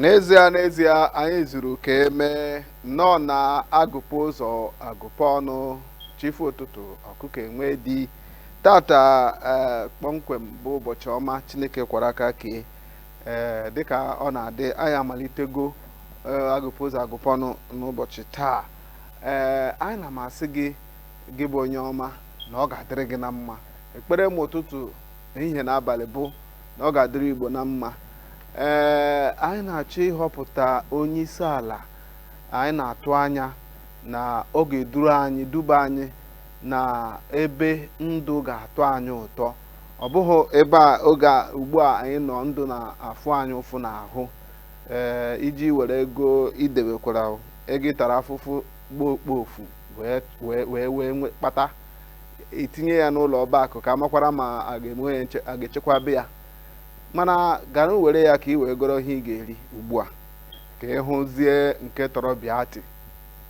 N'ezie n'ezie anyị zuru ka emee nnọọ na agụpe ụzọ agụpe ọnụ chi fo ụtụtụ ọkụkọ enwe di tata eh, kpọmkwem bụ ụbọchị ọma Chineke kwara aka kee ee eh, dịka ọ na-adị anyị amalitego eh, agụpe ụzọ agụpe ọnụ n'ụbọchị taa ee anyị ana m asị gị gị bụ onye ọma na ọ ga-adịrị gị na mma ekpere m ụtụtụ ehihie na abalị bụ na ọ ga-adịrị Igbo na mma ee anyị na-achọ ịhọpụta onye isi ala anyị na-atụ anya na ọ ga-eduru anyị duba anyị na ebe ndụ ga-atọ anyị ụtọ ọ bụghị ebe a oge a ugbu a anyị nọ ndụ na-afụ anyị ụfụ n'ahụ ee i je iwere ego i debekwara ego ị tara afụfụ gbaa okpofu wee wee wee wee nwe- kpata i tinye ya n'ụlọ ọba akụ ka a makwara ma a ga-enwe ya nche- a ga-echekwaba ya mana gaanụ were ya ka i wee goro ihe ị ga-eri ugbu a ka ị hụzie nke tọrọ bịati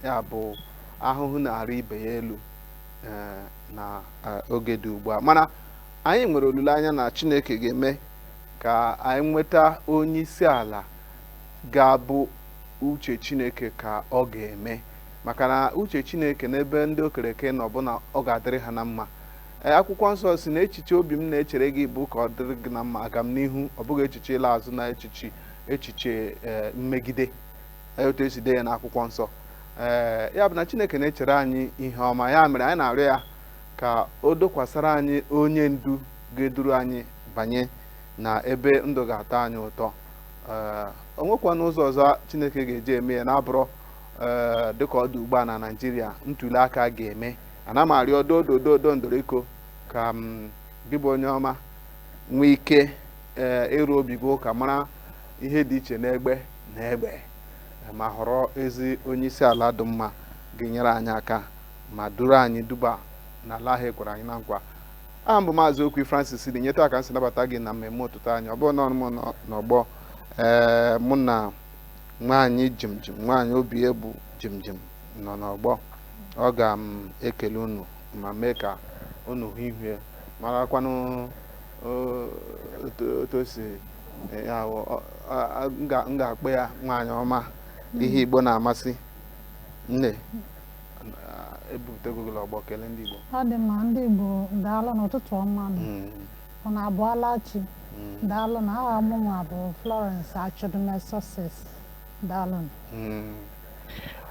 ya bụ ahụhụ na-arị ibe ya elu ee, na eh, oge dị ugbu a mana anyị nwere olileanya na chineke ga-eme ka anyị nweta onye isi ala ga-abụ uche chineke ka ọ ga-eme maka na uche chineke n'ebe ndị o kere eke nọ bụ na ọ ga-adịrị ha na mma Ee, akwụkwọ nsọ sị na echiche obi m na-echere gị bụ ka ọ dịrị gị na mma agamnihu ọ bụghị echiche ịla azụ na echiche echiche ee, mmegide Ee, otu e si dee ya n'akwụkwọ nsọ ee ya bụ na chineke na-echere anyị ihe ọma ya mere anyị na-arịọ ya ka o dokwasara anyị onye ndu ga-eduru anyị banye na ebe ndụ ga-atọ anyị ụtọ ee o nwekwana ụzọ ọzọ chineke ga-eji eme ya na-abụrọ ee dịka ọ dị ugbu a na naijiria ntuli aka ga-eme ana m arịọ dodo dodo ndoriko ka m gị bụ onye ọma nwee ike ee ịrụ obi gị ụka mara ihe dị iche n'egbe na egbe ma họrọ ezi onye isi ala dị mma ga-enyere anyị aka ma duru anyị duba n'ala ahụ e kwere anyị na nkwa aha m bụ maazị okwu francis dị nyeta aka m sị nabata gị na mmemme ụtụtụ anyị ọ bụrọ naanị m nọ n'ọgbọ ee mụ na nwaanyị jimjim nwaanyị obi ebu jimjim nọ n'ọgbọ ọ ga m ekele unu ma mee ka unu hụ ihu ya marakwanụ o- otu otu o si eh, ya wụ, ọ- a- a- m ga- m ga-akpọ ya nwaanyị ọma ihe igbo na-amasị nne ah, ebutego gị ọgbọ kelee ndị igbo ọ dị mma ndị Igbo daalụnụ ụtụtụ ọma nụ. Mm. Unu abọọla chi. Daalụnụ aha mụnwa bụ Florence Achudume Success. Daalụnụ.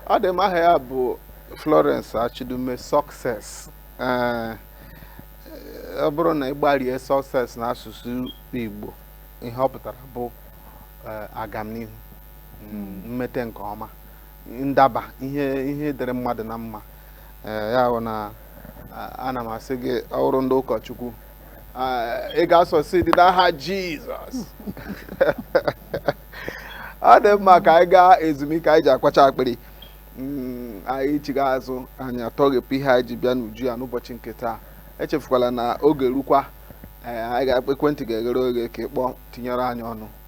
Ọ dị mma aha ya bụ Florence Achudume Success. Ee, ọ bụrụ na ị gbarie success n'asụsụ Igbo ihe ọ pụtara bụ ee, agamnihu mm, mmete nke ọma ndaba ihe ihe dịrị mmadụ na mma ee ya bụ na a- ana m asị gị ọ bụrụ ndị ụkọchukwu a- ị ga-asucceed n'aha jizọs ọ dị mma ka anyị gaa ezumike anyị ji akwacha akpịrị Mm, anyị chiga azụ anyị atọghepụ ihe anyị ji bịa n'uju ya n'ụbọchị nke taa echefukwala na oge rukwa ee, anyị ga-akpa ekwentị ga-eghere oghe ka ị kpọọ tinyere anyị ọnụ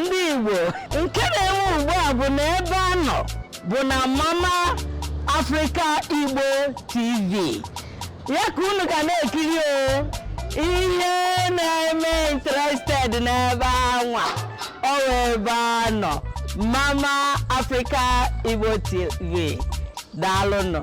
ndị Igbo nke na-enwe ugbu a bụ na ebe a nọ bụ na Mama Africa Igbo TV ya ka unu ga na-ekiri o ihe na-eme interested n'ebe anwa ọ ebe a nọ Mama Africa Igbo TV daalụnụ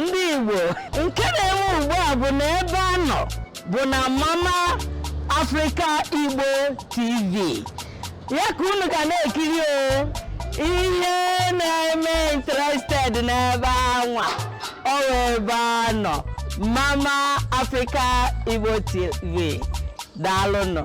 ndị Igbo nke na-enwe ugbu a bụ na ebe a nọ bụ na Mama Africa Igbo TV ya ka unu ga na-ekiri o ihe na-eme interested n'ebe anwa ọ ebe a nọ Mama Africa Igbo TV daalụnụ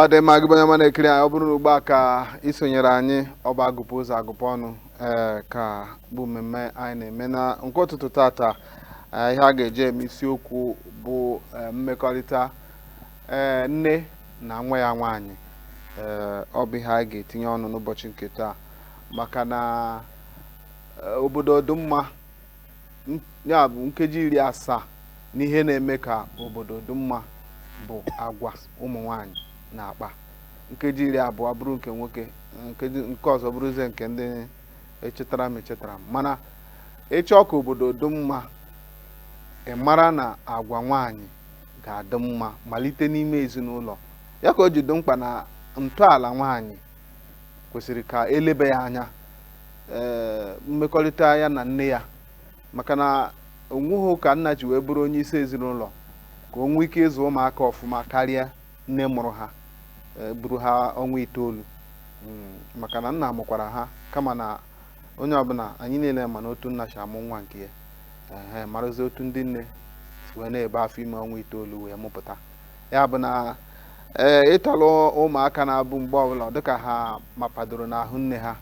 ọ dị mma gị bụ onye ọma na-ekiri anyị ọ bụrụ na ugbu a ka i sonyere anyị ọ bụ agụpụ ụzọ agụpụ ọnụ ee eh, ka bụ mmemme anyị na-eme na nke ụtụtụ tata Eh, ihe a ga-eji eme isiokwu bụ eh, mmekọrịta eh, nne na nwa ya nwaanyị Eh, ọ bụ ihe a ga-etinye ọnụ n'ụbọchị nke taa maka na eh, obodo dị mma n- ya bụ nkeji iri asaa n'ihe na-eme ka obodo dị mma bụ agwa ụmụ nwaanyị na-akpa nkeji iri abụọ bụrụ nke nwoke nkeji nke ọzọ bụrụzie nke ndị echetara m echetara m mana ị chọọ ka obodo dị mma ị mara na agwa nwaanyị ga-adị mma malite n'ime ezinụlọ ya ka o ji dị mkpa na ntọala nwaanyị kwesịrị ka e lebe ya anya ee mmekọrịta ya na nne ya maka na o nweghị ka nna ji wee bụrụ onye isi ezinụlọ ka o nwee ike ịzụ ụmụaka ọfụma karịa nne mụrụ ha e, buru ha ọnwa itoolu mm, maka na nna mụkwara ha kama na onye ọbụla anyị niile ma na otu nna si amụ nwa nke ya ee marazi otu ndị nne si wee na-ebu afọ ime ọnwa itoolu wee mụpụta ya bụ na ee ịtọrọ ụmụaka na-abụ mgbe ọbụla dịka ha mapadoro n'ahụ nne ha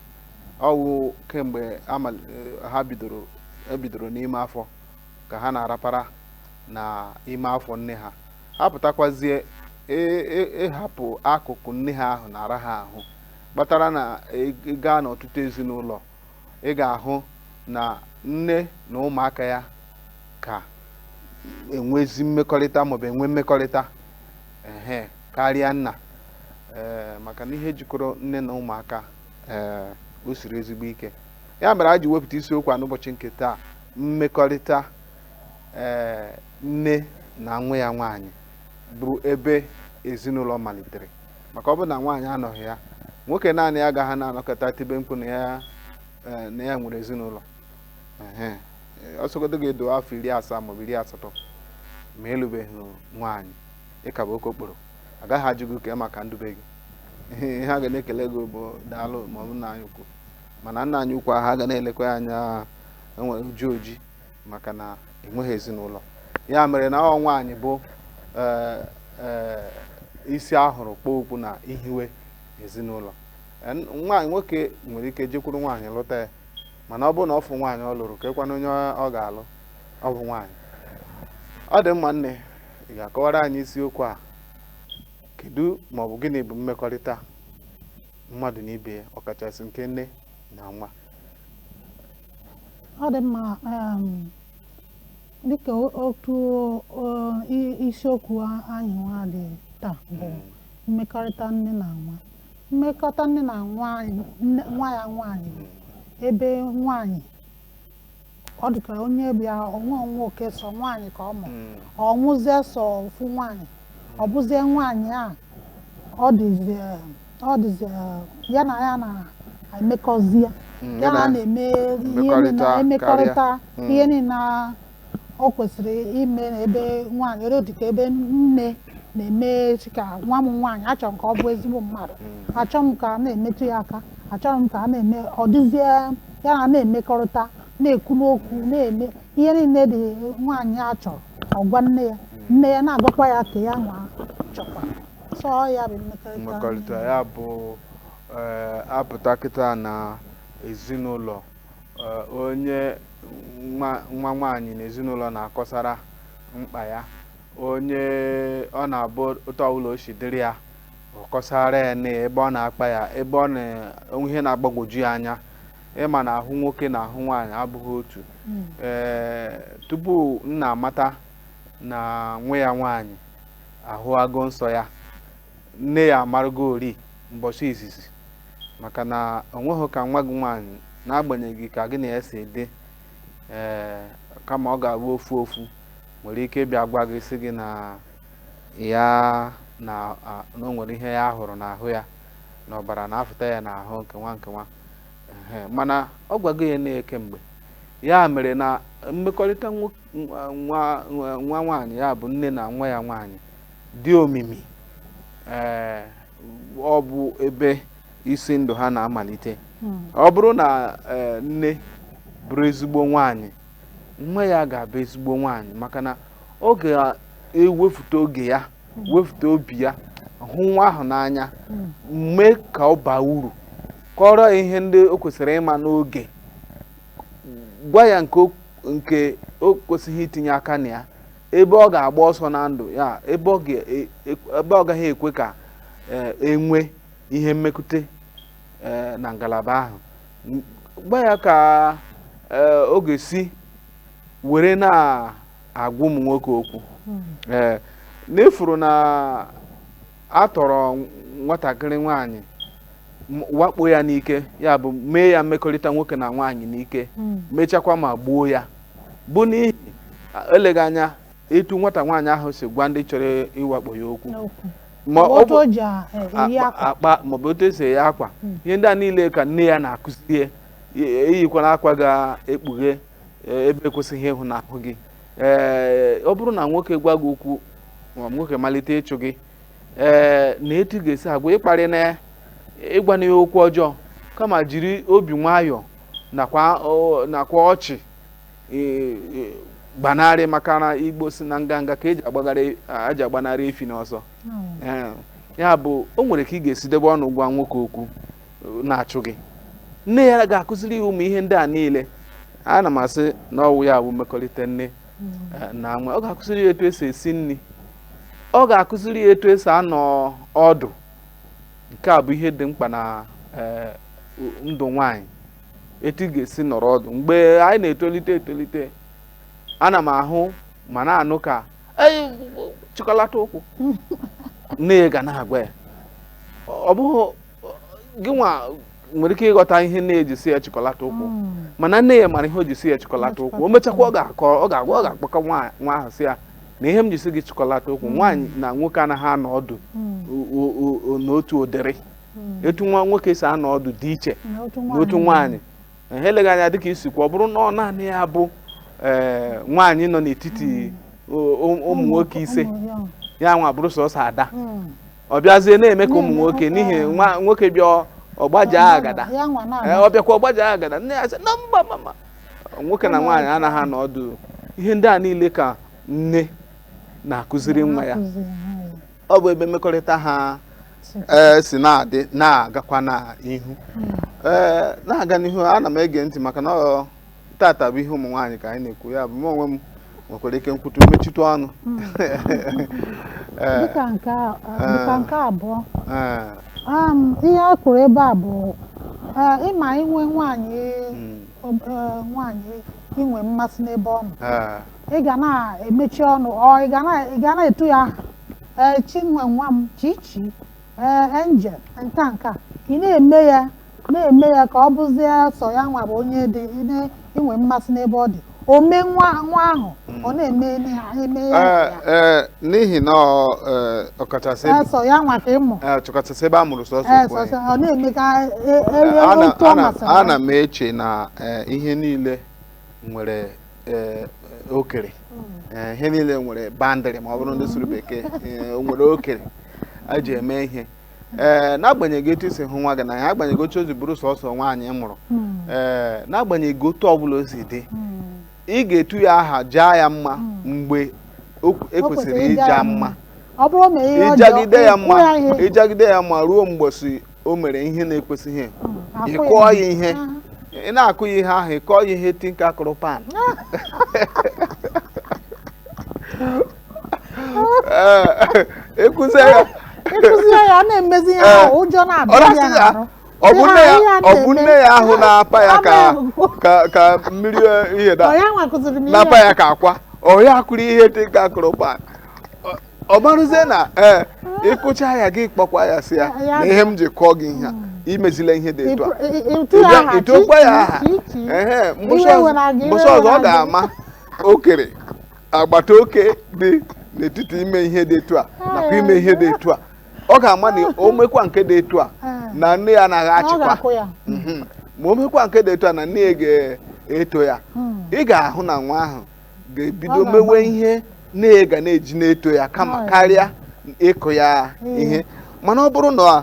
ọ wụ kemgbe ha bidoro ebidoro n'ime afọ ka ha na-arapara na ime afọ nne ha ha pụtakwazie ịhapụ e, e, e akụkụ nne ha ahụ na-ara ha ahụ kpatara na gaa n'ọtụtụ ezinụlọ ị ga-ahụ na nne na ụmụaka ya ka enwezi mmekọrịta maọbụ enwe mmekọrịta ehe karịa nna ee maka na ihe jikọrọ nne na ụmụaka ee o siri ezigbo ike ya mere a ji wepụta isiokwu a n'ụbọchị nke taa mmekọrịta ee nne na nwa ya nwaanyị bụ ebe ezinụlọ malitere maka ọ bụrụ na nwaanyị anọghị ya nwoke naanị ya agaghị na-anọkata tibe mkpu na ya ee, na ya nwere ezinụlọ Ehe. Ee, ọ sọgodu gị dị afọ iri asaa maọbụ iri asatọ ma ị lụbeghị nwaanyị ị ka bụ okokporo agaghị ajụ gị kee maka ndị be gị ihe ha ga na-ekele gị bụ daalụ maọbụ nna anyị ukwu mana nna anyị ukwu ahụ ha ga na-elekwa ya anya enwere uju oji maka na enweghị ezinụlọ ya mere na ọ nwaanyị bụ eh, eh, isi a hụrụ kpuo okpu na ihiwe ezinụlọ En, nwaanyị nwoke nwere ike jekwuru nwaanyị lụta ya mana ọ bụrụ na ọ fụ nwaanyị ọ lụrụ keekwanụ onye ọ ga-alụ ọ bụ nwaanyị ọ dị mma nne ị ga-akọwara anyị isiokwu a kedu maọbụ gịnị bụ mmekọrịta mmadụ na ibe ya ọkachasị nke nne na nwa ọ dị mma um, dịka o- otu o- i- isiokwu a- anyị nwa dị taa bụ mmekọrịta nne na nwa mmekọrịta nne na nwa anyị- nne- nwa ya nwaanyị bụ ebe nwaanyị ọ dịka onye bịa o nwerọ nwoke sọ nwaanyị ka ọ mụ ọ mụzie sọ ofu nwaanyị ọ bụzie nwaanyị a ọ dịzi eh, ọ dịzi eh, ya na ya na-emekọzi ya Mm, ya na a na-eme ihe niile mmekọrịta emekọrịta karịa. Mm. ihe niile a- o kwesịrị ime n'ebe nwaanyị ere dịka ebe nne na-eme echi ka nwa m nwaanyị achọrọ m ka ọ bụ ezigbo mmadụ achọrọ m ka a na-emetụ ya aka achọrọ m ka a na-eme ọ dịzie ya na a na-emekọrịta na-ekwu n'okwu na-eme ihe niile dị nwaanyị a chọrọ ọ gwa nne ya nne ya na-agwakwa ya ka ya nwa chọkwa so ọ ya bụ mmekọrịta mmekọrịta ya bụ eh, a pụta kịta na ezinụlọ eh, onye nwa nwa nwaanyị na ezinụlọ na-akọsara mkpa ya onye ọ na-abụ otu ọbụla o si dịrị ya ọ kọsara ya na ebe ọ na-akpa ya ebe ọ na-enwe ihe na-agbagwoju ya anya ị ma na ahụ nwoke na ahụ nwaanyị abụghị otu Mm. ee tupu nna amata na nwa ya nwaanyị ahụwago nsọ ya nne ya amarụgo eri mbọchị izizi maka na o nweghị ka nwa gị nwaanyị n'agbanyeghị ka gị na ya si dị ee kama ọ ga-abụ ofu ofu nwere ike bịa gwa gị sị gị na ya na o nwere ihe ya hụrụ n'ahụ ya na ọbara na-afụta ya n'ahụ nke nwa nke nwa mana ọ gwago ya nne ya kemgbe ya mere na mmekọrịta nwoke nwa nwaanyị ya bụ nne na nwa ya nwaanyị dị omimi ee ọ bụ ebe isi ndụ ha na-amalite hmm. ọ bụrụ na e, nne bụrụ ezigbo nwaanyị nwa ya ga-abụ ezigbo nwaanyị maka na ọ ga-ewefute oge ya hmm. wefute obi ya hụ nwa ahụ n'anya hmm. mee ka ọ baa uru kọọrọ ya ihe ndị o kwesịrị ịma n'oge gwa ya nke o- nke o kwesịghị itinye aka na ya ebe ọ ga-agba ọsọ na ndụ ya ebe ọ ga- e- e- ebe ọ gaghị ekwe ka eh, e nwee ihe mmekute eh, na ngalaba ahụ N- gwa ya ka eh, ọ ga-esi were na-agwa ụmụ nwoke okwu ee na ị fụrụ na a tọrọ nwatakịrị nwaanyị m- wakpo ya n'ike ya bụ mee ya mmekọrịta nwoke na nwaanyị n'ike mechakwa ma gbuo ya bụ n'ihi a- eleghị anya etu nwata nwaanyị ahụ si gwa ndị chọrọ ịwakpo ya okwu maọbụ otu e si eyi akwa ihe ndị a niile ka nne ya na-akụzi ya e- eyikwala akwa ga-ekpughe e- ebe e kwesịghị ịhụ n'ahụ gị ee ọ bụrụ na nwoke gwa gị okwu ma nwoke malite ịchụ gị ee na etu ị ga-esi agwa ị kparịna ya ị gwana ya okwu ọjọọ kama jiri obi nwayọọ nakwa o- nakwa ọchị ee, ee, gbanarị maka na Igbo sị na nganga ka e ji agbagharị e ji agbanarị efi n'ọsọ Ee, ya bụ o nwere ka ị ga-esi debe ọnụ gwa nwoke okwu na-achụ gị nne ya ga-akụziri ya ụmụ ihe ndị a niile ana m asị na ọ wụ ya wụ mmekọrịta nne eh, na nwa ọ ga-akụziri ya etu esi esi nri ọ ga-akụziri ya etu esi anọ ọdụ nke a bụ ihe dị mkpa na eh, ndụ nwanyị etu ị ga-esi nọrọ ọdụ mgbe anyị na-etolite etolite ana m ahụ ma na-anụ ka chịkọlata ụkwụ nne ya ga na-agwa ya ọ bụghị gị nwa nwere ike ịghọta ihe nne ya ji sị ya chịkọlata ụkwụ hmm. mana nne ya mara ihe o ji sị ya chịkọlata ụkwụ o mechakwa ọ ga-akọ ọ ga-agwa ọ ga-akpọkọ nwa ahụ sị ya na ihe m ji sị gị chịkọlata ụkwụ hmm. nwaanyị na nwoke anaghị anọ ọdụ hmm. n'otu ụdịrị etu nwa nwoke si anọ ọdụ dị iche n'otu nwaanyị eh, eleghị anya dịka ị sịkwa ọ bụrụ na ọ naanị ya bụ eh, nwaanyị nọ n'etiti ụmụ nwoke ise ya nwa bụrụ sọsọ ada ọ bịazie na-eme ka ụmụ nwoke n'ihi na nwoke bịa ọ gbajaa agada ọ bịakwa ọ gbajaa agada nne ya sị na mba mama nwoke na nwaanyị anaghị anọ ọdụ ihe ndị a niile ka nne na-akụziri nwa ya ọ bụ ebe mmekọrịta ha e, si na-adị na-agakwa n'ihu hmm. e, na-aga n'ihu ana m ege ntị maka na tata bụ ihe ụmụ nwaanyị ka anyị na-ekwu ya bụ m onwe m nwekwara ike m kwutu m mechitu ọnụ Ee, dịka nke a- dịka nke abụọ ee, um, ihe a kwuru ebe a bụ eh, ịma inwe nwaanyị mm, ob- eh, nwaanyị inwe mmasị n'ebe ọ nọ ee, ị ga na-emechi ọnụ ọ ị ga na- ị ga na-etu ya aha ee chinwe nwa m chichi ee angel nke a nke a ị na-eme ya na-eme ya ka ọ bụzie sọ ya nwa bụ onye dị ine- inwe mmasị n'ebe ọ dị o mee nwa nwa ahụ ọ na-eme eme ha eme ya na Ee, ya ee, n'ihi na ọ, ee, ọkachasị Ee, sọ ya nwa ka ị mụ ee, ọkachasị ebe a mụrụ sọsọ ee ofu sọ onye. sọ ọ na-eme ka e- e- Ee, e- ana- otu ọ ana- masịrị ya. ana m eche na ee, ihe niile nwere ee, okere Ee, ihe niile nwere boundary ma ọ bụrụ ndị sụrụ bekee ee, o nwere okere a ji eme ihe ee n'agbanyeghị etu i si hụ nwa gị n'anya agbanyeghị otu o si bụrụ sọsọ nwaanyị ị mụrụ ee n'agbanyeghị otu ọbụla o si dị ị ga-etu ya aha jaa ya mma mgbe o- e O kwesịrị kwesịrị ịja ịja ya mma ọ bụrụ na ihe ọjọọ ị jagide ya ịkụ mma ya ihe ị jagide ya mma ruo mgbọsị o mere ihe na-ekwesịghị ị kụọ ya ihe ị na-akụ ya ihe ahụ ị kụọ ya ihe tinka kụrụ pan ịkụzi ya ịkụzi ya ya na-emezi ya ahụ ụjọ na-abịa ya n'arụ ọ bụ nne ya ahụ na-apa ya ka mmiri ihe na-apa ya ka akwa ọ ya kụrụ ihe dị ka a kụrụ ụkpa ọ marụzie na ee eh, ịkụcha ya gị kpọkwa ya sị ya na ihe m ji kụọ gị ihe a imezila ihe dị etu a ịtụkwa ya aha ee mbọsị ọzọ ọ ga-ama okere agbata oke dị n'etiti ime ihe dị etu a nakwa ime ihe dị etu a ọ ga-ama na o mekwa nke dị etu a na nne ya anaghị Ọ achịkwa ga-akụ ya. Mhm. ma o mekwa nke dị etu a na nne ya ga-eto ya Hmm. ị ga-ahụ na nwa ahụ ga-ebido Ọ ga-agbanwe. mewe ihe nne ya ga na-eji na-eto ya kama Ọ ya. karịa ịkụ ya Ee. ihe mana ọ bụrụ na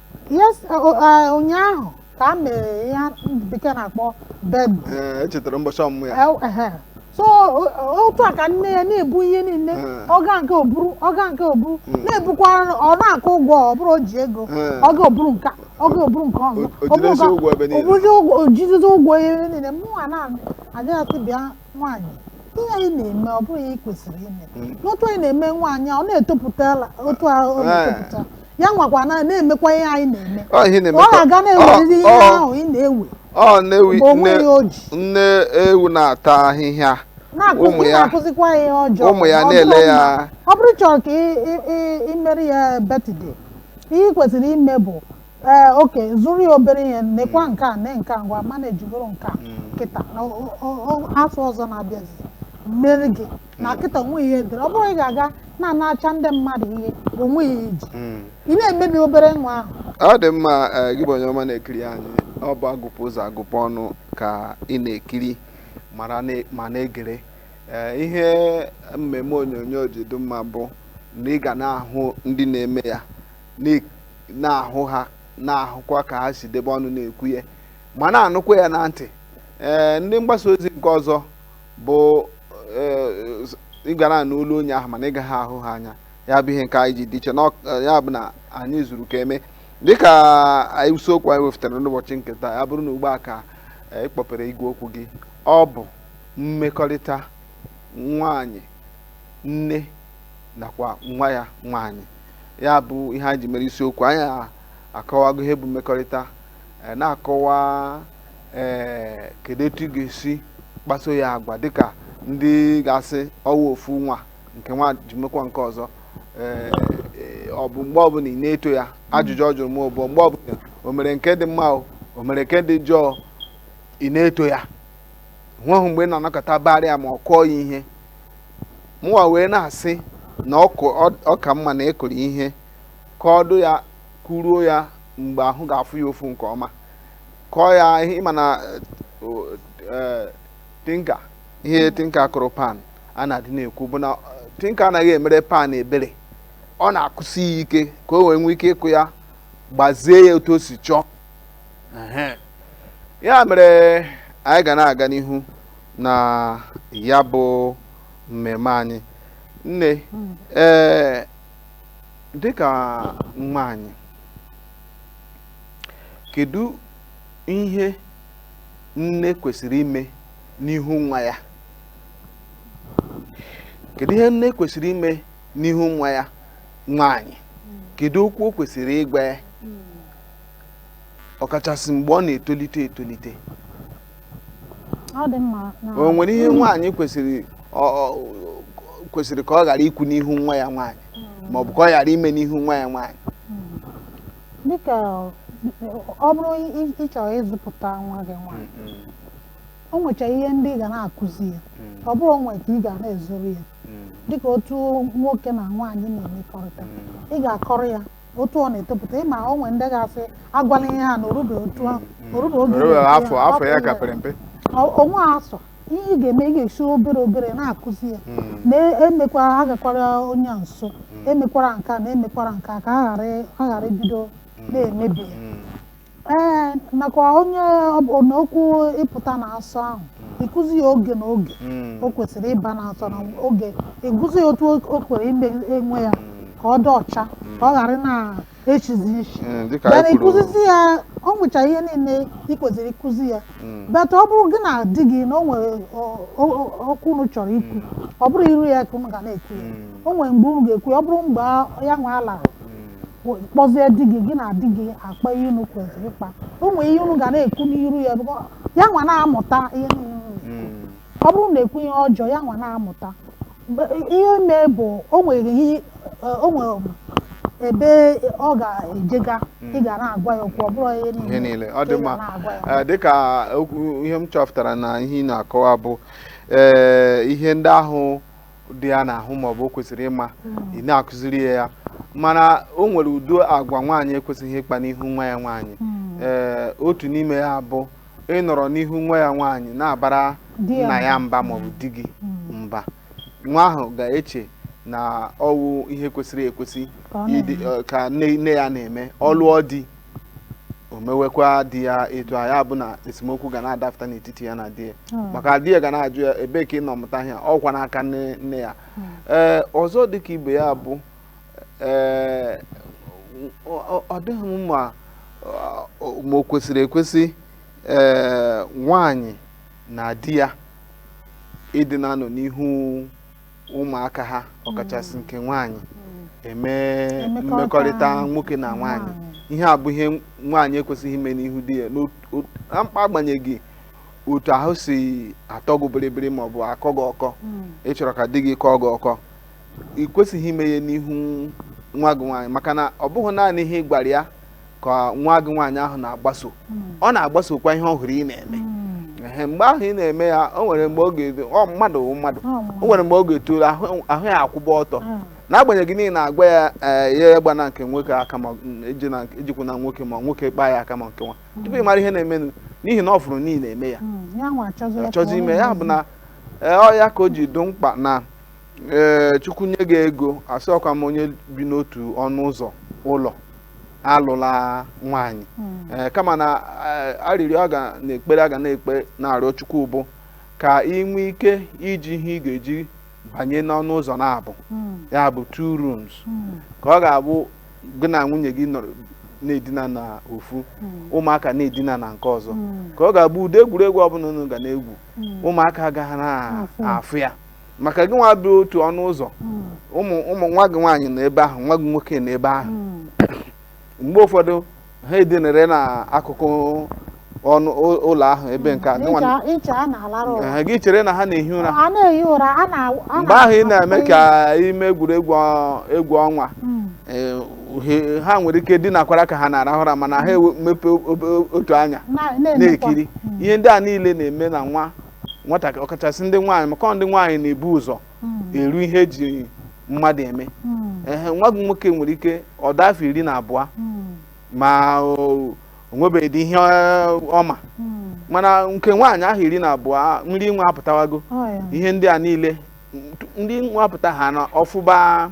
yes uh, uh, uh, ụnyaahụ ka a mere ya ndị bekee na-akpọ birthday Ee, echetara mbọchị ọmụmụ ya El- ehe. so o- o- otu a ka nne ya na-ebu ihe niile Eh. ọ gaa nke o buru ọ gaa nke o buru Mm. na-ebukwa ọ na-akwụ ụgwọ ọ bụrụ o ji ego Eh. ọ gaa o buru nke a, ọ gaa o buru nke ọzọ O- o ọ bụrụ jidezi ka- ụgwọ ebe niile. o bụrụzi ụgwọ o jidezi ụgwọ ebe niile mụnwa na-adịghasị bịa nwaanyị ihe a ị na-eme ọ bụrọ ihe ị kwesịrị ime Mm. n'otu a ị na-eme nwaanyị a, ọ na-etopụta la- otu a ọ Eh. na-etopụta ya nwakwa na na-emekwa ihe a ị na-eme ọ ihe na-eme ọ ka- na-aga na-eweriri ihe ọ- ọ- ahụ ị na-ewe ọ na-ewi mgbe o nne nweghị o ji nne ewu na-ata ahịhịa na-akụzi ụmụ ya- na-akụzikwa ya ihe ọjọọ ụmụ ya ọ bụrụ na-ele ya na- ọ bụrụ chọrọ ka ị- ị- ị- ị mere ya birthday ihe ị kwesịrị ime bụ ee okay zụrụ ya obere ihe nekwa nke a ne nke a ngwa mana ejigoro nke a kịta na o- o- o- afọ ọzọ na-abịazi m meere gị na kịta o nweghị ihe dịrị ọ bụrụ ị ga-aga na-anacha ndị mmadụ ihe o nweghị ihe i ji hmm. ị na-emebi obere nwa ahụ ọ dị mma eh, gị bụ onye ọma na-ekiri anyị ọ bụ agụpụ ụzọ agụpụ ọnụ ka ị na-ekiri ma na-egere eh, ihe mmemme onyonyo ji dị mma bụ na ị ga na-ahụ ndị na-eme ya na-ahụ ha na-ahụkwa ka ha si debe ọnụ na-ekwu ya ma na-anụkwa ya na ntị ee eh, ndị mgbasa ozi nke ọzọ bụ ị gara eh, nụ olu onye ahụ mana ị gaghị ahụ ha anya ya bụ ihe nke anyị ji dị iche eh, ya bụ na anyị zuru ka e mee dịka anyị isiokwu anyị wefụtara n'ụbọchị nke taa ya bụrụ na ugbu a ka eh, ị kpọpere igwe okwu gị ọ bụ mmekọrịta nwanyị nne nakwa nwa ya nwanyị ya bụ ihe anyị ji mere isiokwu anyị akọwago ihe bụ mmekọrịta na-akọwa ee kedu etu ị ga-esi kpaso ya agwa dịka ndị ga-asị ọwụ ofu nwa nke nwa ji mekwa nke ọzọ ee ọ bụ mgbe ọbụla ị na-eto ya ajụjụ ọ jụrụ m bụ mgbe ọbụla o mere nke dị mma o o mere nke dị njọ ị na-eto ya o nweghị mgbe ị na-anọkata baara ya ma ọ kụọ ya ihe mụwa wee na-asị na ọ ka mma na ịkụrụ ihe ka ọdụ ya kụruo ya mgbe ahụ ga-afụ ya ụfụ nke ọma kụọ ya ihe ị ma na tinka ihe tinka kụrụ pan a na-adị na-ekwu bụ na tinka anaghị emere pan ebere ọ na-akụsi ya ike ka o wee nwee ike ịkụ ya gbazie ya otu o si chọọ ya mere anyị ga na-aga n'ihu na ya bụ mmemme anyị nne ee dịka nwaanyị kedu ihe nne kwesịrị ime n'ihu nwa ya kedu ihe nne kwesịrị ime n'ihu nwa ya nwaanyị kedu okwu o kwesịrị ịgwa ya ọkachasị mgbe ọ na-etolite etolite ọ dị mma na o nwere ihe nwaanyị kwesịrị ọ- ọ- kwesịrị ka ọ ghara ikwu n'ihu nwa ya nwaanyị maọbụ ka ọ ghara ime n'ihu nwa ya nwaanyị dịka ọ bụrụ ị- ị chọrọ ịzụpụta nwa gị nwaanyị o nwecha ihe ndị ị ga na-akụzi ya ọ bụrọ o nwe nke ị ga na-ezoro ya dịka otu nwoke na nwaanyị na-emekọrịta ị ga-akọrọ ya otu ọ na-etopụta ị ma o nwere ndị ga-asị agwala ya na o rube otu ahụ o rube oge o rube ya, afọ afọ ya ka pere mpe o nwee asọ ihe ị ga-eme ị ga-esi obere obere na-akụzi ya hmm. na-emekwa e agakwara onye nso hmm. emekwara nke a na emekwara nke a ka a ghara ibido hmm. na-emebi ya ee nakwa onye ọbụla okwu ịpụta na asọ ahụ ịkụzi ya oge na oge o kwesịrị ịba na asọ na oge ịkụzi ya otu o kwere ime onwe ya ka ọ dị ọcha ka ọ ghara na esizi isi Mm, dịka bịara anyị kwuru ịkụzizi ya o nwecha ihe niile ị kwesịrị ịkụzi ya Mm. but ọ bụrụ gị na di gị na o nwere ọ- ọ- ọ- okwu unu chọrọ ikwu ọ bụrọ iru ya ka unu ga na-ekwu ya Mm. o nwere mgbe unu ga-ekwu ya ọ bụrụ mgbe ya nwa laa Mm. kpọzie di gị gị na di gị akpa ihe unu kwesịrị ịkpa o nwere ihe unu ga na-ekwu n'iru ya bụkwa ya nwa na-amụta ihe niile unu Mm. ọ bụrụ na ekwu ihe ọjọọ ya nwa na-amụta Mgbe- ihe mee bụ o nwere ihe o nwere ebe ọ ga-ejega ị ga na-agwa ya okwu ọ bụrọ ihe niile ihe niile ọ ka dị ị ga mma na-agwa ya. Ee, dịka okwu ihe m chọpụtara na ihe ị na-akọwa bụ ee ihe ndị ahụ dị ya n'ahụ maọbụ o kwesịrị ịma ị na-akụziri ya ya mana o nwere ụdị agwa nwaanyị ekwesịghị ịkpa n'ihu nwa ya nwaanyị Mm. ee otu n'ime ha bụ ị nọrọ n'ihu nwa ya nwaanyị na-abara di ya nna ya mba ma ọ bụ di gị mba nwa ahụ ga-eche na ọwụ ihe kwesịrị ekwesị Ka ọ ịdị eh, ka nne nne ya na-eme ọ lụọ di o mewekwa di ya etu a ya bụ na esemokwu ga na-adapụta n'etiti ya na di ya Hmm. maka di ya ga na-ajụ ya ebee ka ị nọ mụta ihe a? ọkwa n'aka nne nne ya ee ọzọ dịka ibe ya bụ ee ọ dịghị mma ma o kwesịrị ekwesị ee nwaanyị na di ya ịdị na-anọ n'ihu ụmụaka ha ọkachasị nke nwaanyị eme mmekọrịta nwoke na nwaanyị ihe a bụ ihe nwaanyị ekwesịghị ime n'ihu di ya na mkpa agbanyeghị otu ahụ si atọ gị bịrịbịrị ma ọ bụ akọ gị ọkọ ị chọrọ ka di gị kọọ gị ọkọ ị kwesịghị ime ya n'ihu nwa gị nwaanyị maka na ọ bụghị naanị ihe ị gwara ya ka nwa gị nwaanyị ahụ na-agbaso hmm. ọ na-agbasokwa ihe ọ hụrụ ị na-eme hmm. mgbe ahụ ị na-eme ya o nwere mgbe ọ ga-edo mmadụ mmadụ o nwere mgbe ọ ga-etolu ahụ ya akwụba ọtọ hmm. n'agbanyeghị na ị na-agwa ya eh, ya agbana nke nwoke aka ma ejekwuna nwoke ma nwoke kpaa ya aka ma nke nwa tupu ị mara ihe na-emenụ n'ihi na ọ fụrụ na ị na-eme ya achọzi ime ya bụ na eh, ọ ya ka o ji dị mkpa na ee chukwu nye gị ego asịrọkwa m onye bi n'otu ọnụ ụzọ ụlọ alụla nwaanyị ee kama na ee, arịrịọ a ga na ekpere a ga na-ekpe na-arịọ chukwu bụ ka ị nwee ike iji ihe ị ga-eji banye n'ọnụ ụzọ naabọ ya bụ two rooms ka ọ ga-abụ gị na nwunye gị nọrọ na-edina na ofu ụmụaka na-edina na nke ọzọ ka ọ ga-abụ ụdị egwuregwu ọbụla unu ga na-egwu ụmụaka agaghị na-afụ ya maka gị nwa bi otu ọnụ ụzọ hmm. ụmụ ụmụ nwa gị nwaanyị na ebe ahụ nwa gị nwoke na ebe ahụ hmm. mgbe ụfọdụ ha edinere n'akụkụ ọnụ ụlọ ahụ ebe nke a gị chere na ha na-ehi ụra mgbe ahụ ị na-eme ka ime egwuregwu egwu ọnwa hmm. e, ha nwere ike dinakwara ka ha na-arahụ ụra mana ha emepe otu anya na-ekiri ihe ndị a niile na-eme n'ụwa nwatakịrị ọkachasị ndị nwaanyị maka ọ ndị nwaanyị na-ebu ụzọ eru ihe eji mmadụ eme ehe nwa gị nwoke nwere ike ọ dị afọ iri na abụọ ma o nwebeghịdị ihe ọ ma mana nke nwaanyị ahụ iri na abụọ nri nwa apụtawago ihe ndị a niile nri nwa apụta ha na ọ fụba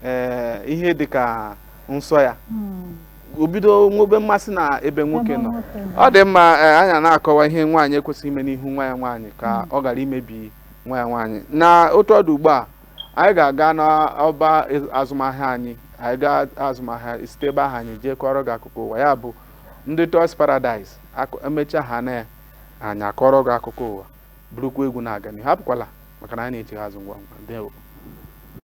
ee eh, ihe dịka nsọ ya hmm. o bido nwobe mmasị na ebe nwoke nọ ọ dị mma eh, anyị na-akọwa ihe nwaanyị ekwesịghị ime n'ihu nwa ya nwaanyị ka hmm. ọ ghara imebi nwa ya nwaanyị na otu ọ dị ugbu a anyị ga-aga n'ọba azụmahịa anyị anyị ga azụmahịa site ebe ahụ anyị jee kọrọ gị akụkọ ụwa ya bụ ndị Toys Paradise emechaa ha na anyị akọrọ gị akụkọ ụwa burukwa egwu na-aga n'ihu apụkwala maka na anyị na-echigha azụ ngwa ngwa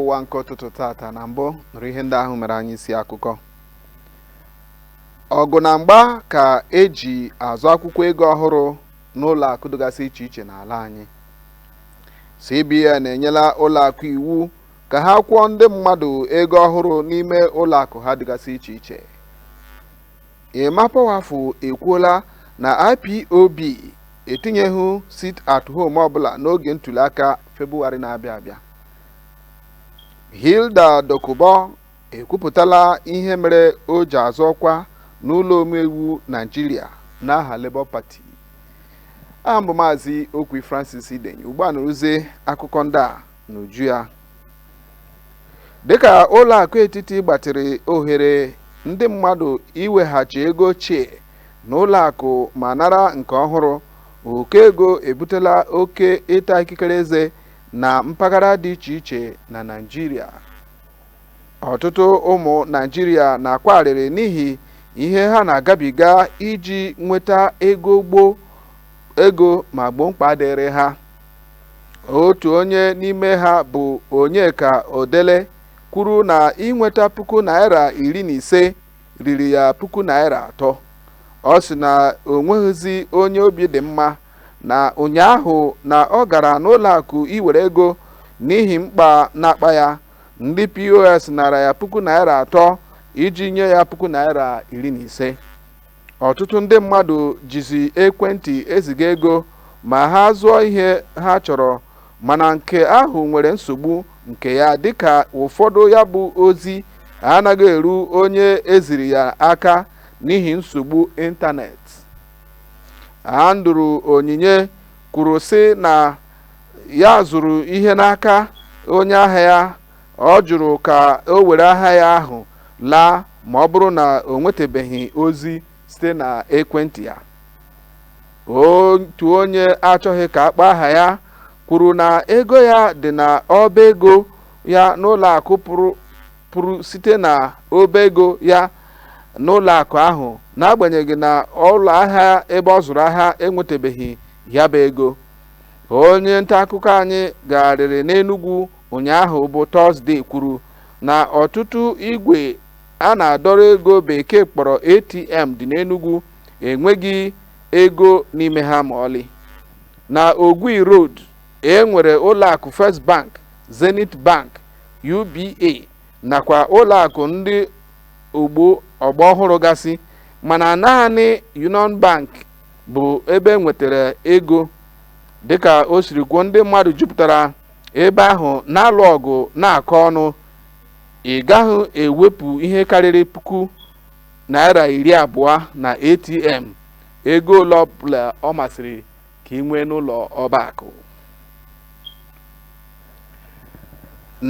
ụwa nke ụtụtụ tata na mbụ nụrụ ihe ndị ahụ mere anyị isi akụkọ ọgụ na mgba ka eji azọ akwụkwọ ego ọhụrụ n'ụlọ akụ dịgasị iche iche n'ala anyị CBN enyela ụlọ akụ iwu ka ha kwụọ ndị mmadụ ego ọhụrụ n'ime ụlọ akụ ha dịgasị iche iche Emma Powerful ekwuola na IPOB etinyeghị sit at home ọbụla n'oge ntuliaka Febụwarị na-abịa abịa. Hilda Dokubo ekwupụtala ihe mere o ji azọ ọkwa n'ụlọ omeiwu Naijiria n'aha Labour Party. Aha m bụ Maazị Okwi Francis Idenyi. Ugbu a nụrụzie akụkọ ndị a n'uju ya dịka ụlọ akụ etiti gbatịrị ohere ndị mmadụ iweghachi ego ochie na ụlọ akụ ma nara nke ọhụrụ ụkọ ego ebutela oke ịta ikikere eze na mpaghara dị iche iche na Naịjirịa ọtụtụ ụmụ Naịjirịa na-akwa arịrị n'ihi ihe ha na-agabiga iji nweta ego gboo ego ma gboo mkpa dịrị ha otu onye n'ime ha bụ Onyeka Odele kwuru na inweta puku naira iri na ise riri ya puku naira atọ ọ sị na o nweghịzi onye obi dị mma na ụnyaahụ na ọ gara n'ụlọakụ iwere ego n'ihi mkpa na-akpa ya ndị POS nara ya puku naira atọ iji nye ya puku naira iri na ise ọtụtụ ndị mmadụ jizi ekwentị eziga ego ma ha zụọ ihe ha chọrọ mana nke ahụ nwere nsogbu nke ya dịka ụfọdụ ya bụ ozi anaghị eru onye eziri ya aka n'ihi nsogbu ịntanetị Andrew Onyinye kwuru sị na ya zụrụ ihe n'aka onye ahịa ya Ọ jụrụ ka o were ahịa ya ahụ laa ma ọ bụrụ na o nwetebeghị ozi site na ekwentị ya. Otu onye achọghị ka a kpọọ aha ya kwuru na ego ya dị na ọba ego ya n'ụlọ akụ pụrụ site na ọba ego ya n'ụlọ akụ ahụ n'agbanyeghị na ụlọ ahịa ebe ọ zụrụ ahịa enwetebeghị ya bụ ego. Onye nta akụkọ anyị gagharịrị n'Enugwu ụnyaahụ bụ Tọzdee kwuru na ọtụtụ igwe a na-adọrọ ego bekee kpọrọ ATM dị n'Enugwu enweghị ego n'ime ha ma ọlị. Na Ogui Road, e nwere ụlọakụ First Bank, Zenith Bank, UBA nakwa ụlọakụ ndị ogbo ọgbọ ọhụrụ gasị mana naanị Union Bank bụ ebe e nwetara ego dịka o siri kwuo ndị mmadụ jupụtara ebe ahụ na-alụ ọgụ na-akọ ọnụ ị gaghị ewepụ ihe karịrị puku naira iri abụọ na ATM ego ole ọbụla ọ masịrị ka i nwee n'ụlọ ọba akụ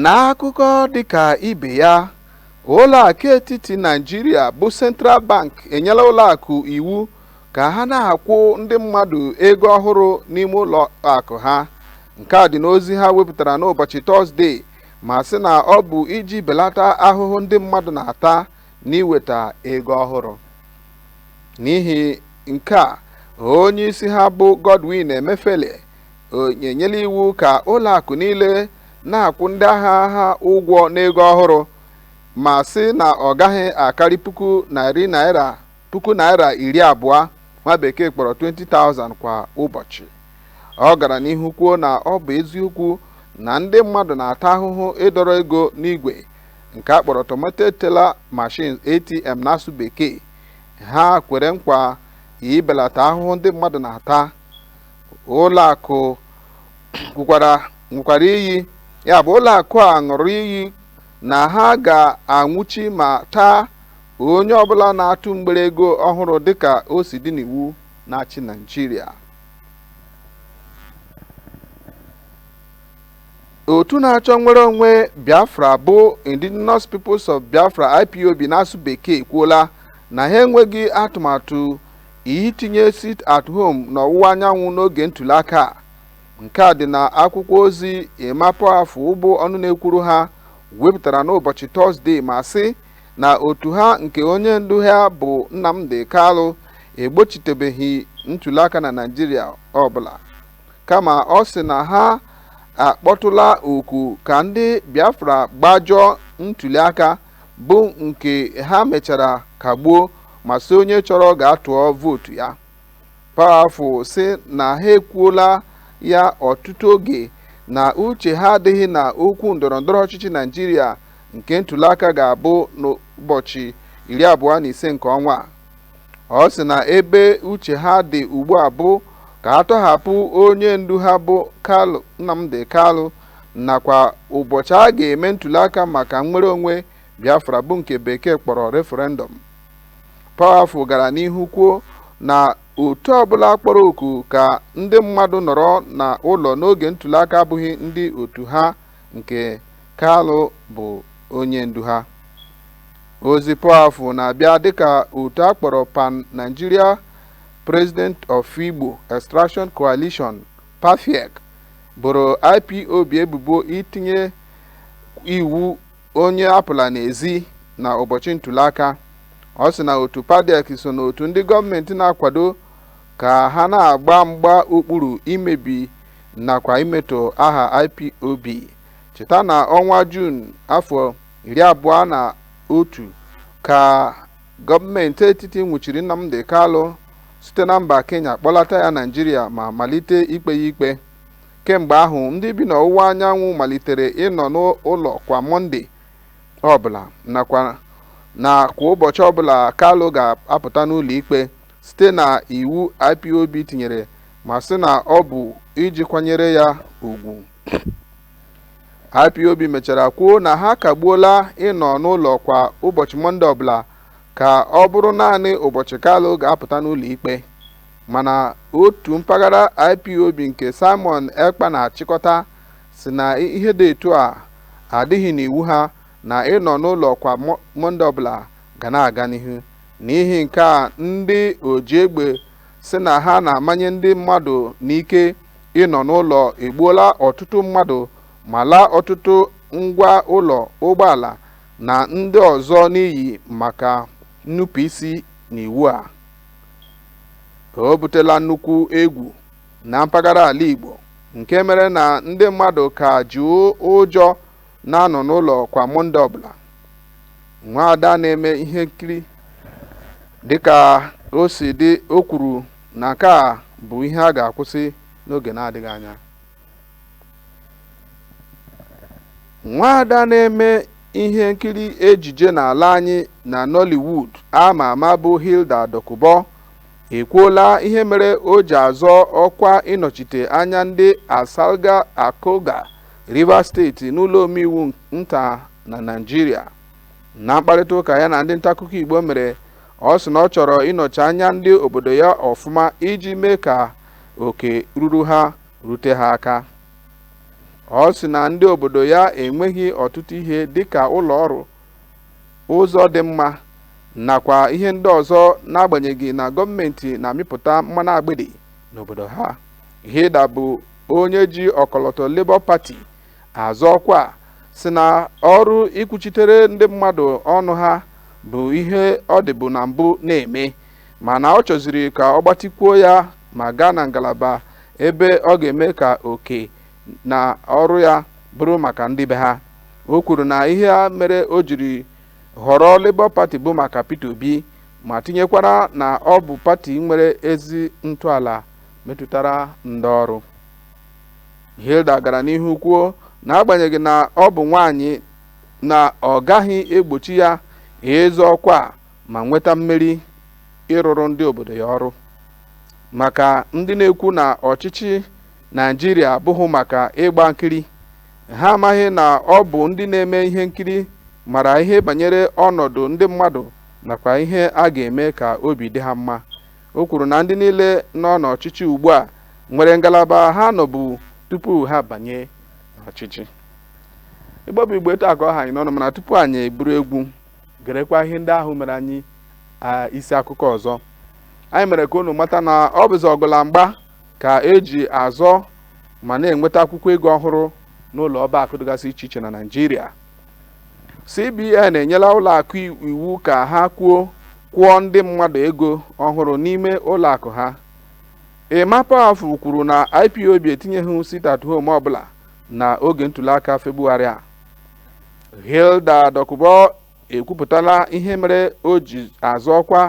n'akụkọ dịka ibe ya ụlọakụ etiti Naijiria bụ Central Bank enyela ụlọakụ iwu ka ha na-akwụ ndị mmadụ ego ọhụrụ n'ime ụlọ akụ ha nke a dị n'ozi ha wepụtara n'ụbọchị tọzdee ma sị na ọ bụ iji belata ahụhụ ndị mmadụ na-ata n'iweta ego ọhụrụ n'ihi nke a onye isi ha bụ Godwin Emefiele enyela iwu ka ụlọ akụ niile na-akwụ ndị ahịa ha ụgwọ n'ego ọhụrụ ma sị na ọ gaghị akarị puku naira puku naira iri abụọ nwa bekee kpọrọ 20,000 kwa ụbọchị ọ gara n'ihu kwuo na ọ bụ eziokwu na ndị mmadụ na-ata ahụhụ ịdọrọ ego n'igwe nke a kpọrọ automated teller machines ATM n'asụ bekee ha kwere nkwa ibelata ahụhụ ndị mmadụ na-ata ụlọ akụ kwukwara nwekwara iyi ya bụ ụlọ akụ a ṅụrụ iyi na ha ga-anwụchi ma taa Onye ọbụla na-atụ mgbere ego ọhụrụ dịka o si dị n'iwu na-achị Naịjirịa. Otu na-achọ nnwere onwe Biafra bụ Indigenous Peoples of Biafra IPOB n'asụ bekee ekwuola na ha enweghị atụmatụ itinye sit at home n'ọwụwa anyanwụ n'oge ntụliaka a. Nke a dị na akwụkwọ ozi Emma Powerful bụ ọnụ na-ekwuru ha wepụtara n'ụbọchị Tọzdee ma sị na otu ha nke onye ndu ha bụ Nnamdi Kalụ egbochitebeghị ntuliaka na Naịjirịa ọbụla kama ọ sị na ha akpọtụla oku ka ndị Biafra gbajọọ ntuliaka bụ nke ha mechara kagbuo ma sị onye chọrọ gaa tụọ vootu ya Powerful sị na ha ekwuola ya ọtụtụ oge na uche ha adịghị na okwu ndọrọndọrọ ọchịchị Naijiria nke ntuliaka ga-abụ n'ụbọchị iri abụọ na ise nke ọnwa a. Ọ sị na ebe uche ha dị ugbu a bụ ka a tọhapụ onye ndu ha bụ Kalu Nnamdi Kalu nakwa ụbọchị a ga-eme ntuliaka maka nnwere onwe Biafra bụ nke bekee kpọrọ referendum. Powerful gara n'ihu kwuo na otu ọbụla kpọrọ oku ka ndị mmadụ nọrọ na ụlọ n'oge ntuliaka abụghị ndị otu ha nke Kalụ bụ onye ndu ha. Ozi Powerful na-abịa dịka otu a kpọrọ Pan Nigeria President of Igbo Extraction Coalition, PANPIEC, boro IPOB ebubo itinye iwu onye apụla n'ezi na ụbọchị ntuliaka ọ sị na otu panpiec so n'otu ndị gọọmenti na-akwado ka ha na-agba mgba okpuru imebi nakwa imetọ aha ipob cheta na ọnwa juun afọ iri abụọ na otu ka gọọmenti etiti nwụchiri nnamdi kalụ site na mba kenya kpọlata ya naijiria ma malite ikpe ya ikpe Kemgbe ahụ, ndị bi n'ọwụwa anyanwụ malitere ịnọ n'ụlọ kwa Mọnde ọbụla nakwa na kwa ụbọchị ọbụla Kalu ga-apụta n'ụlọikpe site na iwu IPOB tinyere ma sị na ọ bụ iji kwanyere ya ugwu. IPOB mechara kwuo na ha akagbuola ịnọ n'ụlọ kwa ụbọchị Mọnde ọbụla ka ọ bụrụ naanị ụbọchị Kalu ga-apụta n'ụlọikpe. mana otu mpaghara IPOB nke Simon Ekpa na-achịkọta sị na ihe dị etu a adịghị n'iwu ha na ịnọ n'ụlọ kwa Mọnde ọbụla ga na-aga n'ihu. N'ihi nke a ndị ojiegbe sị na ha na-amanye ndị mmadụ n'ike ịnọ n'ụlọ egbuola ọtụtụ mmadụ ma laa ọtụtụ ngwa ụlọ ụgbọala na ndị ọzọ n'iyi maka nnupụisi n'iwu a. o butela nnukwu egwu na mpaghara ala Igbo nke mere na ndị mmadụ ka ji ụjọ na-anọ n'ụlọ kwa Mọnde ọbụla nwaada na-eme ihe nkiri dịka o si dị o kwuru na nke a bụ ihe a ga-akwụsị n'oge na-adịghị anya nwaada na-eme ihe nkiri ejije n'ala anyị na Nollywood a ma ama bụ Hilda Dokubo ekwuola ihe mere o ji azọ ọkwa ịnọchite anya ndị Asalga Akulga Rivers steeti n'ụlọ omeiwu nta na Naịjirịa na mkparịta ụka ya na ndị ntaakụkọ Igbo mere ọ sị na ọ chọrọ ịnọchi anya ndị obodo ya ọfụma iji mee ka oke ruru ha rute ha aka. Ọ sị na ndị obodo ya enweghị ọtụtụ ihe dịka ụlọ ọrụ, ụzọ dị mma nakwa ihe ndị ọzọ n'agbanyeghị na gọọmenti na-amịpụta mmanụ agbidi n'obodo ha. Hilda bụ onye ji ọkọlọtọ Labour Party azọ ọkwa sị na ọrụ ikwuchitere ndị mmadụ ọnụ ha bụ ihe ọ dịbu na mbụ na-eme mana ọ chọzịrị ka ọ gbatikwuo ya ma gaa na ngalaba ebe ọ ga-eme ka oke na ọrụ ya bụrụ maka ndị be ha o kwuru na ihe a mere o jiri họrọ Labour Party bụ maka Peter Obi ma tinyekwara na ọ bụ pati nwere ezi ntọala metụtara ndị ọrụ Hilda gara n'ihu kwuo na agbanyeghị na ọ bụ nwaanyị na ọ gaghị egbochi ya ịzọ ọkwa ma nweta mmeri ịrụrụ ndị obodo ya ọrụ maka ndị na-ekwu na ọchịchị naijiria abụghị maka ịgba nkiri ha amaghị na ọ bụ ndị na-eme ihe nkiri mara ihe banyere ọnọdụ ndị mmadụ nakwa ihe a ga-eme ka obi dị ha mma o kwuru na ndị niile nọ n'ọchịchị ugbu a nwere ngalaba ha nọbu tupu ha banye n'ọchịchị igbo bụ igbo etu a ka ọ ha anyị n'ọnụ mana tupu anyị eburu egwu gerekwa ihe ndị ahụ mere anyị isi akụkọ ọzọ anyị mere ka unu mata na ọ bụzi ọgụ la mgba ka e ji azọ ma na-enweta akwụkwọ ego ọhụrụ n'ụlọ ọba akụ dịgasị iche iche na Naịjirịa CBN enyela ụlọ akụ iwu ka ha kwuo kwụọ ndị mmadụ ego ọhụrụ n'ime ụlọ akụ ha Emma Powerful kwuru na IPOB etinyeghị sit at home ọbụla na oge ntuliaka Febụwarị a hilda dokubo ekwupụtala ihe mere o ji azọ ọkwa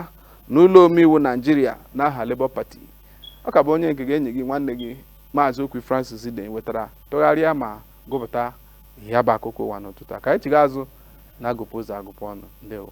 n'ụlọ omeiwu naijiria n'aha labour party ọ ka bụ onye nke gị enyi gị nwanne gị maazị okwi francis nwetara tụgharịa ma gụpụta ya bụ akụkọ ụwa n'ụtụtụ a ka anyị chiga azụ na agụpụ ụzọ agụpụ ọnụ ndewo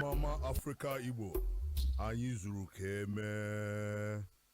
Mama Africa Igbo anyị zuru ka e mee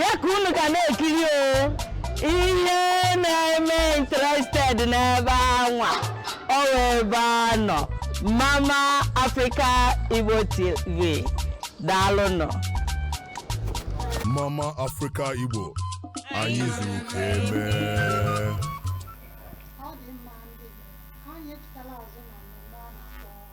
ya ka unu ga na-ekiri o ihe na-eme interested n'ebe anwa ọ wụ ebe a nọ mama africa igbo tv daalụnụ Mama Africa Igbo anyị zuru ka eme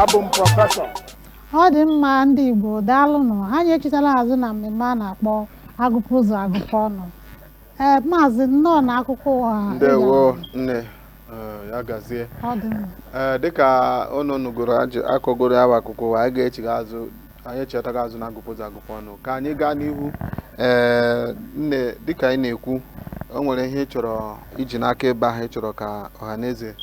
abụ m prọfesọ ọ dị mma ndị Igbo daalụnụ anyị echitala azụ na mmemme a na-akpọ agụpụ ụzọ agụpụ ọnụ ee maazị nnọọ na akụkọ ụwa ndewo nne eh, ya gazie ọ dị mma eh, dịka unu nụgoro akọgoro ya bụ akụkọ ụwa anyị ga-echigha azụ anyị echighata azụ na agụpụ ụzọ agụpụ ọnụ ka anyị gaa n'ihu ee nne dịka anyị na-ekwu o nwere ihe ị chọrọ iji n'aka ebe ahụ ị chọrọ ka ọha na eze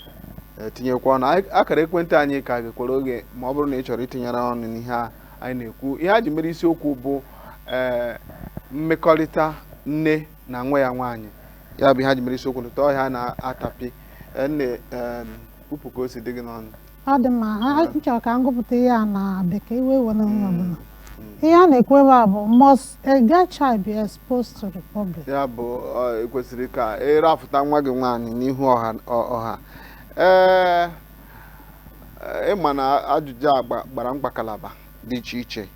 e, tinyekwa ọnụ Anyị- akara ekwentị anyị ka ghekwara oghe ma ọ bụrụ na ị chọrọ itinyere ọnụ n'ihe a anyị na-ekwu ihe a ji mere isiokwu bụ ee mmekọrịta nne na nwa ya nwaanyị ya bụ ihe a ji mere isiokwu n'ụtụtụ a na-atapi Ee, nne ee, kwupụ ka o si dị gị n'ọnụ ọ dị mma ha m chọrọ ka m gụpụta ihe a na bekee iwe iwe na onye ọbụla ihe a na-ekwu ebe a bụ must a girl child be exposed to the public ya bụ ọ, ekwesịrị ka ịrafụta nwa gị nwaanyị n'ihu ọha ọ- ọha ee ị ma na ajụjụ a gba- gbara mkpakalaba dị iche iche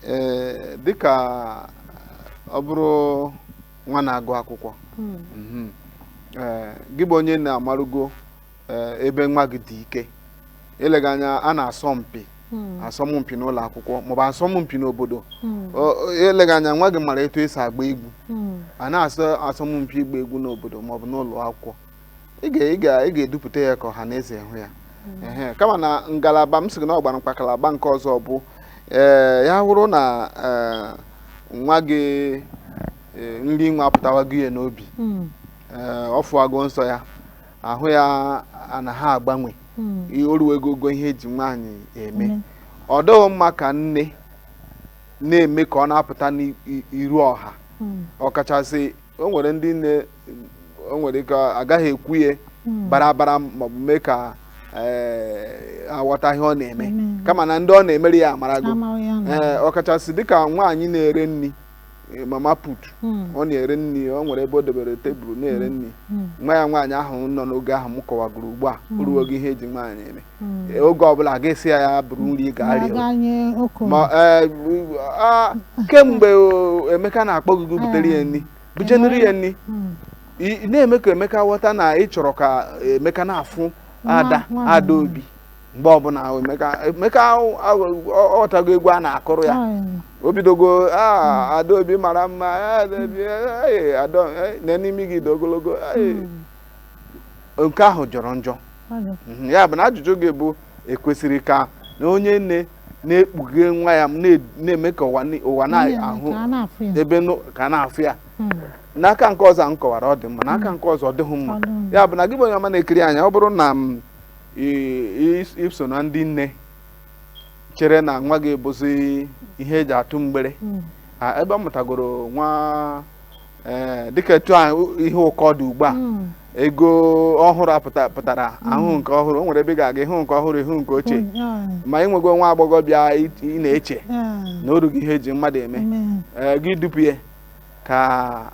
ee dịka ọ bụrụ nwa na-agụ akwụkwọ Mm. mhm, ee, gị bụ onye na-amarugo eh, ebe nwa gị dị ike eleghị anya a na-asọ mpi hmm. asọmpi n'ụlọ akwụkwọ maọbụ asọmpi n'obodo hmm. eleghị anya nwa gị mara etu esi agba egwu hmm. a na-asọ asọmpi ịgba egwu n'obodo maọbụ n'ụlọ akwụkwọ ị ga-edupụta ya ka ọha na eze hụ ya kama na ngalaba m sịrị na ọ gbara mkpakalaba nke ọzọ bụ ee eh, ya hụrụ na eh, nwa gị nri nwa apụtawago ya n'obi ọfụwago nsọ ya ahụ ya ana-agbanwe hmm. o ruwego ogo ihe eji nwaanyị eme ọ dịghị mma ka nne na-eme ka ọ na-apụta n'iru ọha hmm. ọkachasị o nwere ndị nne o nwere ike agaghị ekwu ya hmm. barabara maọbụ mee ka eh, aghọta ihe ọ na-eme kama na ndị ọ na-emere ya amarago eh, ọkachasị dịka nwaanyị na-ere nri eh, mama put Hmm. ọ na-ere nri ọ nwere ebe o debere tebụl na-ere nri Hmm. nwa ya nwaanyị ahụ nọ n'oge ahụ m kọwagoro ugbu a o ruo ogo ihe eji nwaanyị eme Hmm. Eh, oge ọbụla a ga-asị ya ya buru nri gaa rie Na-aga nye okenye. ma eh, bu- ah, kemgbe o, emeka na-akpọ gị gị butere ya nri bujenere ya nri Hmm. ị ị na-eme ka emeka ghọta na ị chọrọ ka emeka na-afụ ada nwa- ada obi mgbe ọbụla emeka emeka ahụ- ahụ- ọ- ọ ghọtago egwu a na-akụrụ ya o bidogo "Ah, adaobi mara mma ah, adaobi eh, ada eh, na n'imi gị dị ogologo eh." nke ahụ jọrọ njọ Mhm, ya bụ na ajụjụ gị bụ ekwesịrị ka na onye nne na-ekpughe nwa ya m na- na-eme ka ụwa ni- ụwa na-ahụ ka a na-afụ ya ebe nụ- ka a na-afụ ya Mm. n'aka nke ọzọ ahụ m kọwara ọ dị mma n'aka nke ọzọ ọ dịghị mma Ọ dịghị mma. ya bụ na gị bụ onye ọma na-ekiri anyị ọ bụrụ na m iso na ndị nne chere na nwa gị bụzi ihe eji atụ mgbere hmm. ebe ọ mụtagoro nwa eh, dịka etu ihe ụkọ dị ugbu a hmm. ego ọhụrụ pụtara hmm. ahụ nke ọhụrụ o nwere ebe ị ga-aga ịhụ nke ọhụrụ ịhụ nke ochie ma ị nwego nwa agbọghọ bịa ị na-eche na o rugo ihe eji mmadụ eme eh, gị dupụ ya ka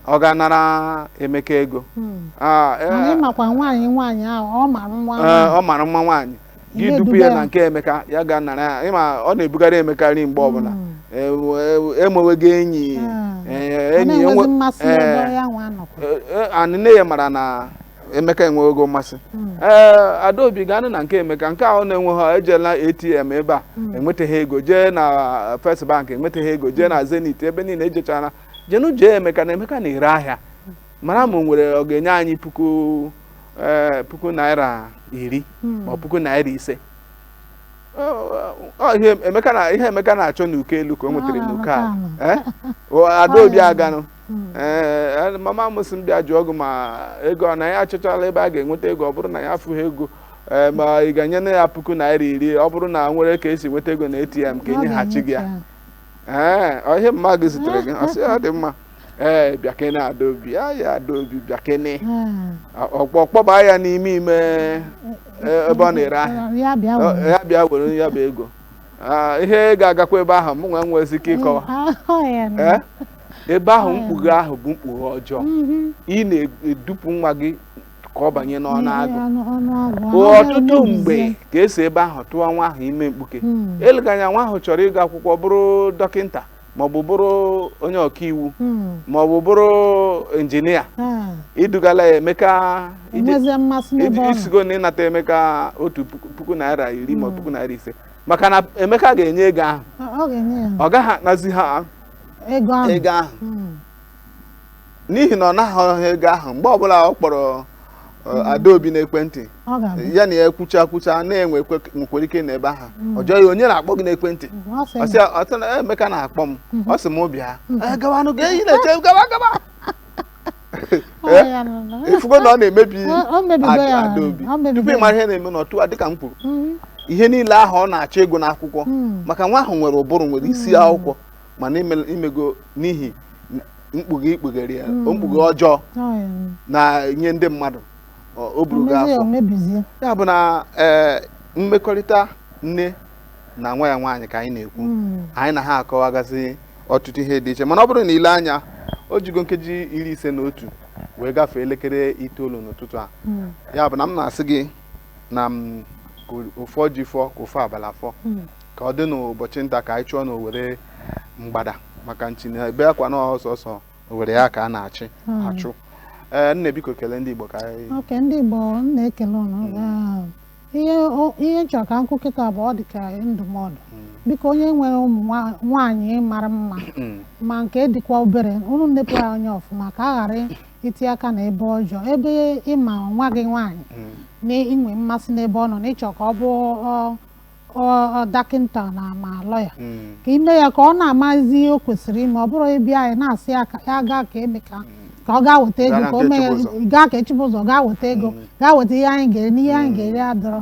ọ gaa nara emeka ego Hmm. Ah, eh, mana ịmakwa nwaanyị nwaanyị ahụ ọ mara mma eh, nwaanyị. ọ mara mma nwaanyị gị dupụ ya duga ya na nke emeka ya gaa nara ya ma ọ na-ebugara emeka nri mgbe ọbụla Hmm. Eh, we- emewego enyi Hmm. eh, Ọ enyi na-enwezi enwe- mmasị eh, ebe ya nwa nọkwa. Eh, eh, and nne ya mara na emeka enwego mmasị hmm. ee adaobi gaanụ na nke emeka nke ahụ na-enweghị ejela atm ebe a hmm. enwetaghị ego jee na uh, first bank enwetaghị ego jee na hmm. zenith ebe niile ejechaala jenụ jụọ emeka na emeka na-ere ahịa mara ma o nwere ọ ga-enye anyị puku eh, puku naira iri ma puku naira ise ihe emeka na-achọ n'uko elu ka o nwetara n'uko ala eh? adaobi aganụ hmm. ee eh, mama m si m bịa jụọ gị ma ego ọ na ya achọchala ebe a ga-enweta ego ọ bụrụ na ya afụghị ego eh, ma ị ga-enyenụ ya puku naira iri ọ bụrụ na enwere ka esi nweta ego na ATM ka enyeghachi gị ya ee eh, ihe mama gị zitere gị ọ sị ya ọ dị mma ee bịakene adaobi ya ya adaobi bịakene hmm. ọ kpọ kpọba ya n'ime ime ebe ọ na-ere ahịa ya bịa were ya bụ ego Ah, ihe ga-agakwa ebe ahụ mụ nwa enwezi ike ịkọwa eh, ah, eh? ebe ahụ mkpughe ahụ bụ mkpughe ọjọọ ị na-edupụ nwa gị ka ọ banye n'ọnụ agụ ọtụtụ mgbe ka esi ebe ahụ tụwa nwa ahụ ime mkpuke eleganya nwa ahụ chọrọ ịga akwụkwọ bụrụ dọkịta maọbụ bụrụ onye ọkaiwu maọbụ bụrụ injinia idugala ya emeka isigo na ịnata emeka otu puku naira iri ma puku naira ise maka na emeka ga-enye ego ahụ ọ gaghị anazi ha ego ahụ ego ahụ Mm. n'ihi na ọ naghị ha ego ahụ mgbe ọbụla ọ kpọrọ eh, adaobi n'ekwentị ọ ga-abịa ya na ya kwucha kwucha na-enwe ekwe- nwekwara ike nọ ebe ahụ ọ jụọ ya onye na-akpọ gị n'ekwentị ọ sị ọ sị ya, "Ọ sị na emeka na-akpọ m ọ sị m bịa "Eh, gawanụ gịnị ị na-eche gawa gawa ifugo eh? na ọ na-emebi adaobi tupu ịmara ihe na-eme n'otu a dịka m kwuru mm-hmm. ihe niile ahụ ọ na-achọ ịgụ n'akwụkwọ mm. maka nwa ahụ nwere ụbụrụ nwere isi mm. akwụkwọ mana imego n'ihi mkpughe ikpughere ya mm. mkpughe ọjọọ n'anya ndị mmadụ o burugo afọ ya bụ na eh, mmekọrịta nne na nwa ya nwaanyị ka anyị na-ekwu hmm. anyị na ha akọwagasị ọtụtụ ihe dị iche mana ọ bụrụ na ile anya o jigo nkeji iri ise na otu wee gafee elekere itoolu n'ụtụtụ a hmm. ya bụ na m na-asị gị na m ụfọ ji fọ ka ụfọ abala fọ hmm. ka ọ dị n'ụbọchị nta ka anyị chụọ na owere mgbada maka nchi na ebe akwa na ọ sọsọ owere ya ka a na-achụ achụ ee nne biko kelee ndị Igbo ka anyị okay ndị Igbo na-ekele ụnụ ihe o- ihe m chọrọ ka m kwuo kịta bụ ọ dị ka ndụmọdụ biko onye nwere ụmụ nwa- nwaanyị mara mma ma nke dịkwa obere unu nepụ ya anya ọfụma ka a ghara itinye aka na ebe ọjọọ ebe ịma nwa gị nwaanyị na inwe mmasị n'ebe ọ nọ na ịchọ ka ọ bụ ọ- ọ- ọ dọkịnta na ma lọya ka ime ya ka ọ na-amazi ihe o kwesịrị ime ọ bụrọ ịbịa na-asị ya ka ya gaa nke Emeka ka ọ gaa weta ego Gaa nke Chibuzọ gaa weta ego gaa weta ihe anyị ga-eri n'ihe anyị ga-eri adịrọ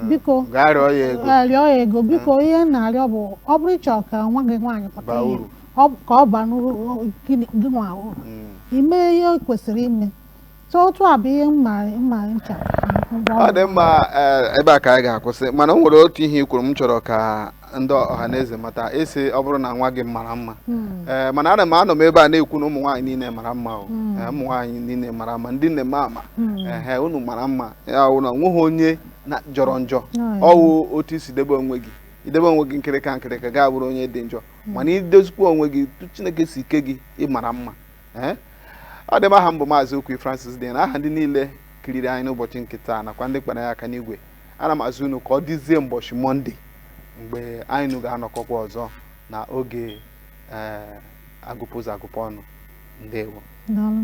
biko gaa rịọ ya ego eh, rịọ ya ego biko ihe m na-arịọ bụ ọ bụrụ ị chọrọ ka nwa gị nwaanyị pụta Baa ihe, uru. ọ bụ- ka ọ baa n'uru o- gị gị nwa uru Mm. ime ihe o kwesịrị ime so otu a bụ ihe mma mma ncha ọ dị mma eh, ebe a ka anyị ga-akwụsị mana o nwere otu ihe i kwuru m chọrọ ka ndị ọhaneze mata ị sị ọ bụrụ na nwa gị mara mma hmm. ee eh, mana ana m anọ m ebe a na-ekwu na ụmụ nwaanyị niile mara mma o hmm. eh, ụmụ nwaanyị niile mara mma ndị nne mama hmm. ehe unu mara mma ya wụ na onweghị onye jọrọ njọ ọwụ otu isi debe onwe gị idebe onwe gị nkịrịka nkịrịka gị abụrụ onye dị njọ mana idozikwa onwe gị otu chineke si kee gị ịmara mma ee eh? ọ dị mma aha m bụ maazị Okwi Francis dị na aha ndị niile kiriri anyị n'ụbọchị nke taa nakwa ndị kpara ya aka n'igwe ana m asị unu ka ọ dịzie mbọchị mọnde mgbe anyị na unu ga-anọkọkwa ọzọ na oge ee agụpụ ụzọ agụpụ ọnụ ndewo Daalụ.